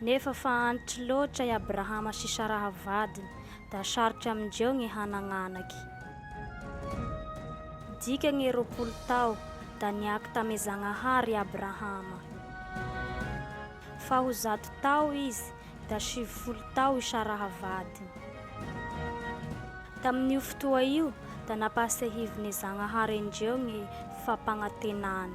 Nefa fa antitry loatra i Abrahama sy Saraha vadiny, da sarotra amin-dreo gny hanagna anaky. Dikagne roapolo tao, da niaky tame Zagnahary i Abrahama. Faho zato tao izy, da sivifolo tao i Saraha vadiny. Tamin'io fotoa io, da nampahasehivigne Zagnahare an-dreo gne fampagnatenany.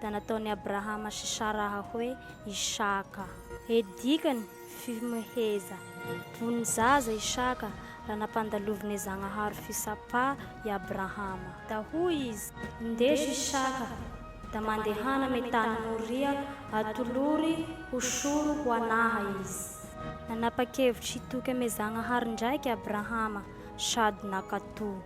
dia nataon'i Abrahama sy Saraha hoe Isaka. He dikany, fimeheza. Vonin'ny zaza Isaka raha nampandalovin'i Zagnahary fisapa i Abrahama. Da hoy izy, Indeso Isaka, da mandehana amy tana Moria atolory ho soro ho anaha izy. Nanapa-kevitry hitoky amy Zagnahary ndraiky Abrahama sady nakato.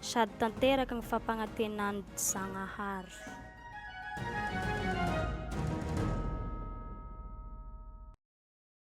sady tanteraka ny fampanantenan'i Zagnahary.